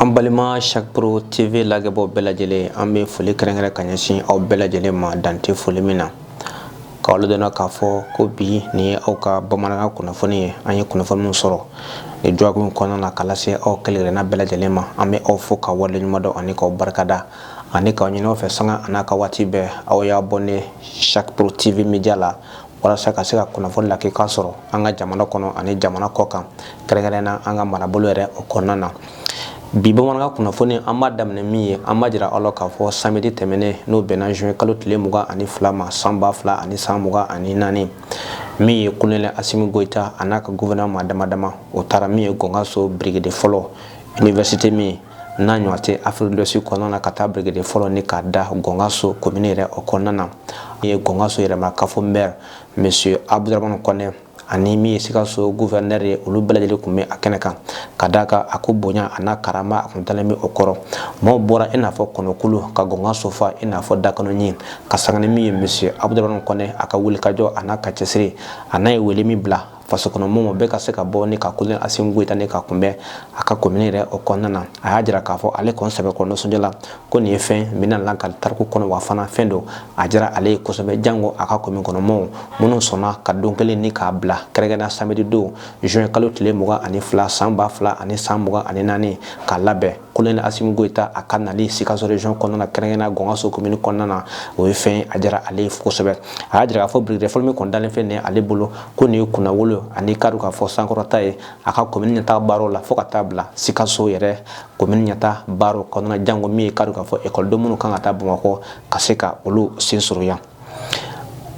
an balima sakpro tv lagɛbaw bɛɛ lajɛlen an bɛ foli kɛrɛnkɛrɛn ka ɲɛsin aw bɛɛ lajɛlen ma dan tɛ foli min na k'aw ladɔnniya k'a fɔ ko bi nin ye aw ka bamanankan kunnafoni ye an ye kunnafoni min sɔrɔ nin jɔkun in kɔnɔna na k'a lase aw kelenkelenna bɛɛ lajɛlen ma an bɛ aw fo ka waleɲumandɔn ani k'aw barikada ani k'a ɲin'aw fɛ sanga an'a ka waati bɛɛ aw y'abɔne sakpro tv media la walasa ka se ka kunnafoni lakika sɔrɔ an ka jamana kɔnɔ ani jamana kɔ kan kɛrɛnkɛrɛnna an ka marabolo yɛrɛ o kɔnɔna na bi bamanankan kunnafoni an b'a daminɛ min ye an b'a jira aw la k'a fɔ samedi tɛmɛnen n'o bɛnna juin kalo tile mugan ani fila ma san ba fila ani san mugan ani naani min ye kolonɛli asimi goyita a n'a ka gouvernement maa damadama o taara min ye gɔngaso birikiden fɔlɔ université min n'a ɲɔgɔn tɛ afrique de l'ouest kɔnɔna na ka taa birikiden fɔlɔ ni k'a da gɔngaso komini yɛrɛ o kɔnɔna na min ye gɔngaso yɛrɛma kafo mɛri monsieur abudramani kɔnɛ ani min ye sikaso guvɛrinɛri ye olu bɛɛ lajɛlen tun bɛ a kɛnɛ kan ka d'a kan a ko bonya a n'a karama a tun dalen bɛ o kɔrɔ maaw bɔra i n'a fɔ kɔnɔkulu ka gɔngaso fa i n'a fɔ dakɔnɔɲin ka sanga ni min ye monsieur abudramani kɔnɛ a ka wulikajɔ a n'a ka cɛsiri a n'a ye wele min bila fasokɔnɔmɔgɔw bɛɛ ka se ka bɔ ni ka kolonɛli Asimi Goyita ni ka kunbɛn a ka komini yɛrɛ o kɔnɔna na a y'a jira k'a fɔ ale kɔni sɛbɛkɔrɔ nisɔndiyala ko nin ye fɛn min na la an ka tariku kɔnɔ wa fana fɛn don a diyara ale ye kosɛbɛ jango a ka komini kɔnɔmɔgɔw minnu sɔnna ka don kelen ni k'a bila kɛrɛnkɛrɛnna samedi don juin kalo tile mugan ani fila san ba fila ani san mugan ani naani k'a labɛn kolonɛli asimi goyita a ka nali sikaso region kɔnɔna na kɛrɛnkɛrɛnna gɔngaso komini kɔnɔna na o ye fɛn a diyara ale ye kosɛbɛ a y'a jira k'a fɔ birikiden fɔlɔ min kɔni dalen filɛ nin ale bolo ko nin ye kunnawolo ani k'a dɔn k'a fɔ sankɔrɔta ye a ka komini ɲɛtaa baaraw la fo ka taa bila sikaso yɛrɛ komini ɲɛtaa baaraw kɔnɔna janko min ye k'a dɔn k'a fɔ ekɔliden minnu kan ka taa bamakɔ ka se ka olu sen sɔrɔ yan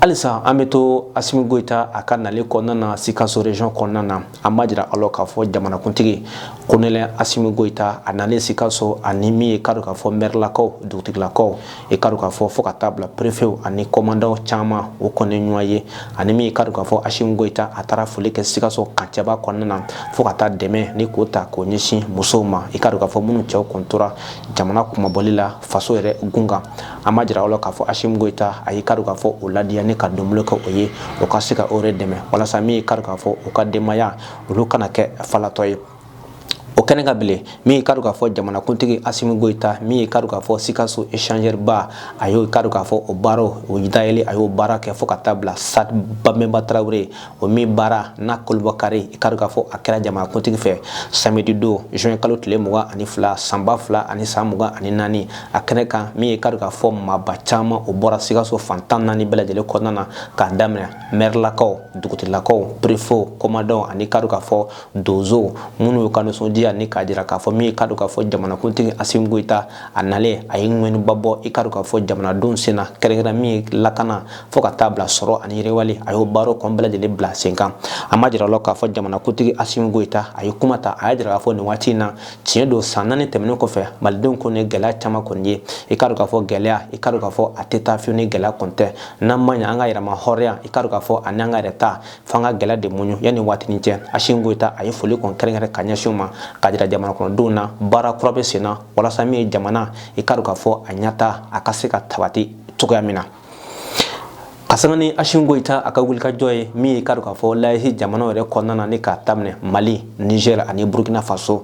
halisa an bɛ to asimi goyita a ka nali kɔnɔna na sikaso region kɔnɔna na an b'a jira aw la k'a fɔ jamanakuntigi kolonɛli asimi goyita a nalen sikaso ani min ye k'a dɔn k'a fɔ mɛrilakaw dugutigilakaw i k'a dɔn k'a fɔ fo ka taa bila perefew ani kɔmandaw caman o kɔni ɲɔgɔn ye ani min ye k'a dɔn k'a fɔ asimi goyita a taara foli kɛ sikaso kan cɛba kɔnɔna na fo ka taa dɛmɛ ni k'o ta k'o ɲɛsin musow ma i k'a dɔn k'a fɔ minnu cɛw kun tora jamana kunmabɔli la faso yɛrɛ gun kan an b'a jira aw la k'a fɔ asimi goyita a y'i k'a dɔn k'a fɔ o ladiya ni ka donbolo kɛ o ye o ka se ka o yɛrɛ dɛmɛ walasa min y'i k'a dɔn k'a fɔ u ka denbaya olu kana kɛ falatɔ ye o kɛnɛ kan bilen min ye k'a dɔn k'a fɔ jamanakuntigi asimi goyita min ye k'a dɔn k'a fɔ sikaso échangeur ba a y'o k'a dɔn k'a fɔ o baara o dayɛlɛ a y'o baara kɛ fo ka taa bila stade babɛnba tarawele la o ye o min baara n'a kurunbonkari i ka dɔn k'a fɔ a kɛra jamanakuntigi fɛ samedi don juin kalo tile mugan ani fila sanba fila ani san mugan ani naani a kɛnɛ kan min ye i ka dɔn k'a fɔ maaba caman o bɔra sikaso fan tan naani bɛɛ lajɛlen kɔnɔna na k'a daminɛ mɛrilakaw dugutigilakaw préfet commandant ani i ka dɔn k'a fɔ donsow minnu y'u ka nisɔndiya ni k'a jira k'a fɔ min ye i ka dɔn k'a fɔ jamanakuntigi asimi goyita a nalen a ye ŋɛniba bɔ i ka dɔn k'a fɔ jamanadenw sen na kɛrɛnkɛrɛn min ye lakana fo ka taa bila sɔrɔ ani yiriwali a y'o baaraw kɔni bɛɛ lajɛlen bila sen kan an b'a jira la k'a fɔ jamanakuntigi asimi goyita a ye kuma ta a y'a jira k'a fɔ nin waati in na tiɲɛ don san naani tɛmɛnen kɔfɛ malidenw kɔni ye gɛlɛya caman kɔni ye i ka dɔn k'a fɔ gɛlɛya i ka dɔn k'a fɔ a tɛ taa fiyewu ni gɛlɛya kɔni tɛ n'an ma ɲɛ an ka yɛrɛma hɔrɔnya i ka dɔn k'a fɔ ani an ka yɛrɛ ta f'an ka gɛlɛya de muɲu yanni waatinin cɛ asimi goyita a ye foli kɔni kɛrɛnkɛrɛn ka ɲɛsin u ma k'a jira jamana kɔnɔdenw na baara kura bɛ sen na walasa min ye jamana i ka dɔn k'a fɔ a ɲɛtaa a ka se ka sabati cogoya min na ka sanga ni asimi goyita a ka wulikajɔ ye min ye i ka dɔn k'a fɔ l'AES jamanaw yɛrɛ kɔnɔna na ni k'a daminɛ mali nizɛr ani burukina faso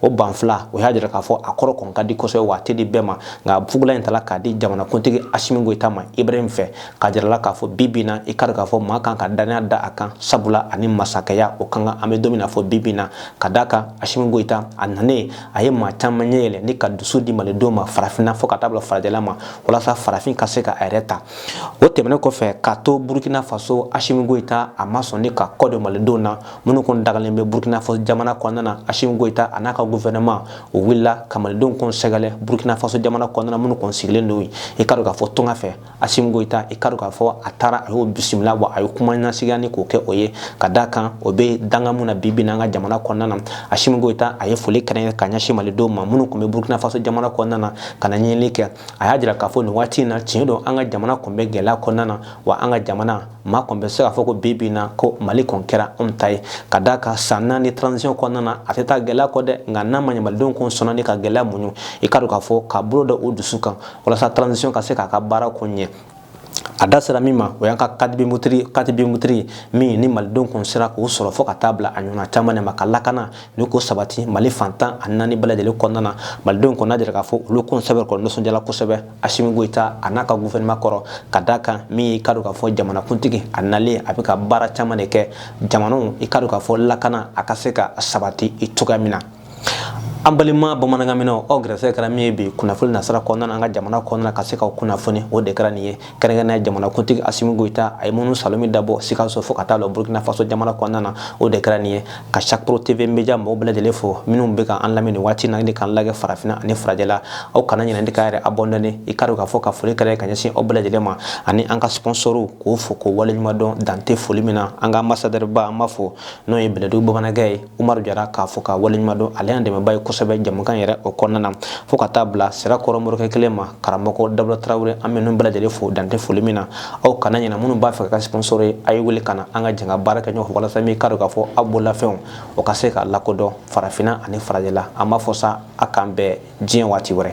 o banfula o y'a jira k'a fɔ a kɔrɔ kɔni ka di kosɛbɛ wa a tɛ di bɛɛ ma nka fugula in tala k'a di jamanakuntigi asimi goyita ma ibrahim fɛ k'a jirala k'a fɔ bi bi in na i ka dɔn k'a fɔ maa kan ka dannaya da a kan sabula a ni masakɛya o ka kan an bɛ don min na fo bi bi in na ka d'a kan asimi goyita a nanen a ye maa caman ɲɛ yɛlɛ ni ka dusu di malidenw ma farafinna fo ka taa bila farajɛla ma walasa farafin ka se ka a yɛrɛ ta o tɛmɛnen kɔfɛ k'a to burukina faso asimi goyita a ma sɔn ni ka kɔ don malidenw na minnu kɔni dagalen bɛ burukina faso jamana kɔnɔna na asimi goyita a n'a ka gouvernement o wulila ka malidenw kɔni sɛgɛrɛ burukina faso jamana kɔnɔna minnu kɔni sigilen don i ka dɔn k'a fɔ tunga fɛ asimi goyita i ka dɔn k'a fɔ a taara a y'o bisimila wa a ye kuma nasigiya ni k'o kɛ o ye ka d'a kan o bɛ danga mun na bi bi n'an ka jamana kɔnɔna na asimi goyita a ye foli kɛrɛnkɛrɛn ka ɲɛsin malidenw ma minnu tun bɛ burukina faso jamana kɔnɔna na ka na ɲinili kɛ a y'a jira k'a fɔ nin waati in na tiɲɛ don an ka jamana tun bɛ gɛlɛya kɔnɔna na wa an ka jamana maa kɔni bɛ se k'a fɔ ko bi bi in na ko mali kɔni kɛra anw ta ye ka d'a kan san naani transition kɔnɔna na a tɛ taa gɛlɛya kɔ dɛ nka n'a ma ɲɛ malidenw kɔni sɔnna ni ka gɛlɛya muɲu i ka dɔn k'a fɔ ka bolo da u dusu kan walasa transition ka se k'a ka baara ko ɲɛ a da sera min ma o y'an ka carte biométrique carte biométrique min ni malidenw kun sera k'o sɔrɔ fo ka taa bila a ɲɔgɔnna caman de ma ka lakana ni ko sabati mali fan tan ni naani bɛɛ lajɛlen kɔnɔna na malidenw kɔni y'a jira k'a fɔ olu kun sɛbɛkɔrɔ nisɔndiyala kosɛbɛ Asimi Goyita a n'a ka gouvernement kɔrɔ ka d'a kan min ye i ka dɔn k'a fɔ jamanakuntigi a nalen a bɛ ka baara caman de kɛ jamanaw i ka dɔn k'a fɔ lakana a ka se ka sabati i cogoya min na an balima bamanankanmɛnnaw aw gɛrɛsɛgɛ kɛra min ye bi kunnafoni nasira kɔnɔna na an ka jamana kɔnɔna ka se k'aw kunnafoni o de kɛra nin ye kɛrɛnkɛrɛnnenya jamanakuntigi Asimi Goyita a ye minnu salon min dabɔ Sikaso fo ka taa bila Burkina Faso jamana kɔnɔna na o de kɛra nin ye ka sakpro tv media maaw bɛɛ lajɛlen fo minnu bɛ ka an lamɛn nin waati na ni k'an lajɛ farafinna ani farajɛla aw kana ɲinɛ k'a yɛrɛ abonné i ka dɔn k'a fɔ ka foli kɛra ka ɲɛsin aw bɛɛ lajɛlen ma ani an ka sponsorw k'o fo k'o waleɲuman dɔn dan tɛ foli min na an ka ambassadeurba an b'a fɔ n'o ye bɛlɛdugu bamanankɛ ye umaru jara k'a fo k'a waleɲuman dɔn ale y'an dɛmɛba ye kosɛbɛ jɛmukan yɛrɛ o kɔnɔna na fo ka taa bila sirakɔrɔ morikɛ kelen ma karamɔgɔ dawuda tarawele an bɛ ninnu bɛɛ lajɛlen fo dan tɛ foli min na aw kana ɲinɛ minnu b'a fɛ ka kɛ sponsor ye a ye wele ka na an ka jɛn ka baara kɛ ɲɔgɔn fɛ walasa min ka dɔn k'a fɔ aw bololafɛnw o ka se ka lakodɔn farafinna ani farajɛla an b'a fɔ sa a k'an bɛn diɲɛ waati wɛrɛ